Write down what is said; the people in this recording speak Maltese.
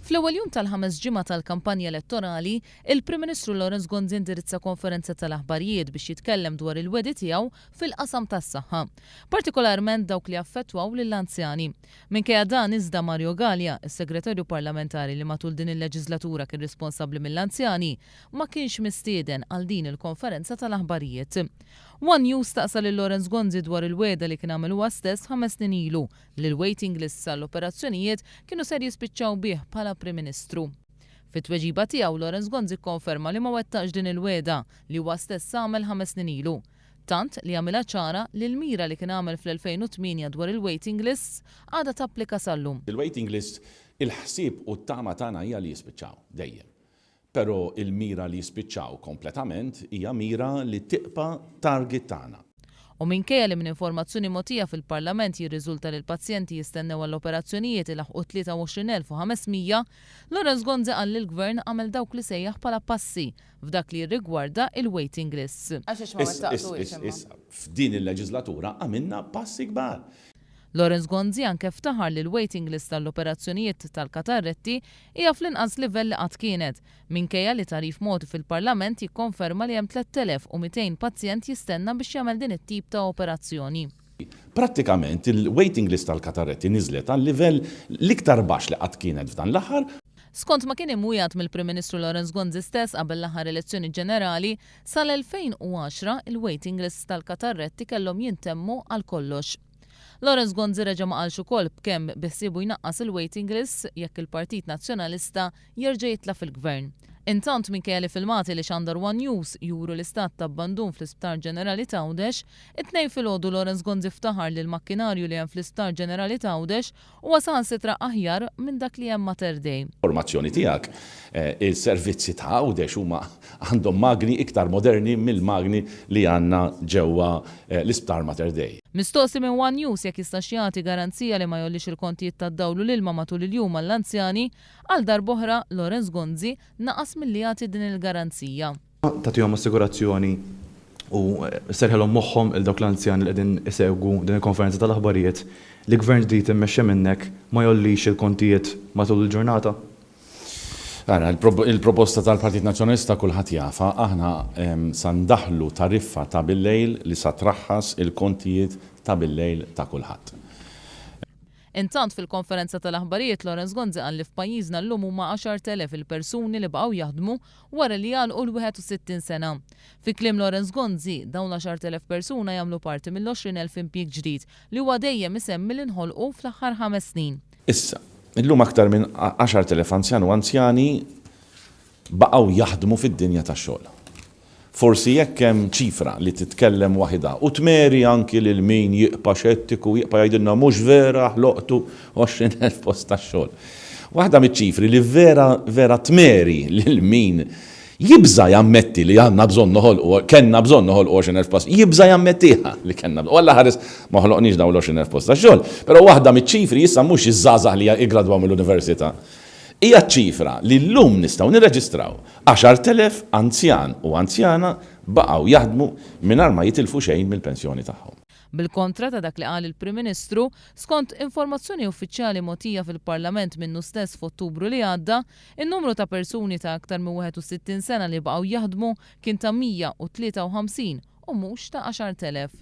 Fl-ewwel jum tal-ħames ġimgħa tal-kampanja elettorali, il-Prim Ministru Lawrence Gonzi indirizza konferenza tal-aħbarijiet biex jitkellem dwar il-wegħdi tiegħu fil-qasam tas-saħħa, partikolarment dawk li jaffettwaw lill-anzjani. Minkejja dan iżda Mario Galea, is-Segretarju Parlamentari li matul din il-leġiżlatura kien responsabbli mill-anzjani, ma kienx mistieden għal din il-konferenza tal-aħbarijiet. One News staqsa lil Lawrence Gonzi dwar il-wegħda li kien għamel huwa stess ħames snin ilu, li l-waiting lists għall-operazzjonijiet kienu ser jispiċċaw bih bħala Prim Ministru. Fi tweġiba tiegħu, Lawrence Gonzi kkonferma li ma wettaqx din il-wegħda li huwa stess għamel ħames snin ilu. Tant li għamilha ċara li l-mira li kien għamel fl-2008 dwar il-waiting lists għadha tapplika sal-lum. Il-waiting lists, il-ħsieb u t-tama tagħna hija li jispiċċaw, dejjem. Pero' il-mira li jispiċċaw kompletament hija mira li tibqa' target tagħna. U minkejja li minn informazzjoni mogħtija fil-Parlament jirriżulta li l-pazjenti jistennew għall-operazzjonijiet ilaħħqu 23,500, Lawrence Gonzi qal li l-Gvern għamel dawk li sejjaħ bħala passi f'dak li jirrigwarda il-waiting lists. Is, is, is, is, f'din il-leġislatura għamilna passi kbar. Lawrence Gonzi anke ftaħar li l-waiting list għall-operazzjonijiet tal-katarretti hija fl-inqas livell li qatt kienet, minkejja li tagħrif mogħti fil-Parlament jikkonferma li hemm 3,200 pazjent jistenna biex jagħmel din it-tip ta' operazzjoni. Prattikament il-waiting list għall-katarretti niżlet għal livell l-iktar baxx li qatt kienet f'dan l-aħħar. Skont ma kien imwiegħed mill-Prim Ministru Lawrence Gonzi stess qabel l-aħħar elezzjoni ġenerali, Sal-2010, il-waiting lists tal-katarretti kellhom jintemmu għal kollox. Lawrence Gonzi reġa' ma qalx ukoll b'kemm biħsiebu jnaqqas il-waiting lists jekk il-Partit Nazzjonalista jerġa' jitla' fil-Gvern. Intant, minkejja li filmati li xandar one News juru l-istat ta' abbandun fl-Isptar Ġenerali t'Għawdex, it-Tnejn filgħodu Lawrence Gonzi ftaħar li l-makkinarju li hemm fl-Isptar Ġenerali t'Għawdex Huwa saħansitra aħjar minn dak li hemm Mater Dei. Formazzjoni tiegħek. Is-servizzi ta' Għawdex huma għandhom magni iktar moderni mill-magni li għandna ġewwa l-Isptar Mater Dei. Mistoqsi minn one News jekk jistax jagħti garanzija li ma jgħollix il-kontijiet tad-dawl u l-ilma matul il-jum għall-anzjani, għal darb'oħra, Lawrence Gonzi, naqas milli jagħti din il-garanzija. tagħtihom assigurazzjoni u sserrħilhom moħħhom lil dawk l-anzjani li qegħdin isegwu din il-konferenza tal-aħbarijiet li gvern ġdid immexxi minnek ma jgħollix il-kontijiet matul il-ġurnata? Ara, il-proposta tal-Partit Nazzjonalista kulħadd jafha, aħna sa ndaħħlu tariffa ta' billejl li sa traħħas il-kontijiet ta' billejl ta' kulħadd. Intant fil-konferenza tal-aħbarijiet Lawrence Gonzi qal li f'pajjiżna llum huma 10,000 il-persuni li baqgħu jaħdmu wara li jagħlqu l-61 sena. Fi kliem Lawrence Gonzi, dawn l-10,000 persuna jagħmlu parti mill-20,000 impjieg ġdid li huwa dejjem isemmi li nħolqu fl-aħħar ħames snin. Issa, illum aktar minn 10,000 anzjan u anzjani baqgħu jaħdmu fid-dinja tax-xogħol. Forsi jekk hemm ċifra li titkellem waħidha u tmeri anki lil min jibqa' xettiku, jibqa' jgħidilna mhux vera ħloqtu 20 elf post tax-xogħol. Waħda miċ-ċifri li vera, vera tmeri lil min jibża' jammetti li għandna bżonn noħolqu, kellna bżonn noħolqu 20 elf post, jibża' jammettiha li kellna bżonn. U alla ħares ma ħloqniex dawn l-20 elf post tax-xogħol. Però waħda miċ-ċifri issa mhux iż-żgħażagħ li jiggradwaw mill-università. Hija ċ-ċifra li llum nistgħu nirreġistraw. 10,000 anzjan u anzjana baqgħu jaħdmu mingħajr ma jitilfu xejn mill-pensjoni tagħhom. Bil-kontra ta' dak li qal il-Prim Ministru, skont informazzjoni uffiċjali mogħtija fil-Parlament minnu stess f'Ottubru li għadda, in-numru ta' persuni ta' aktar minn 61 sena li baqgħu jaħdmu kien ta' 153 u mhux ta' 10,000.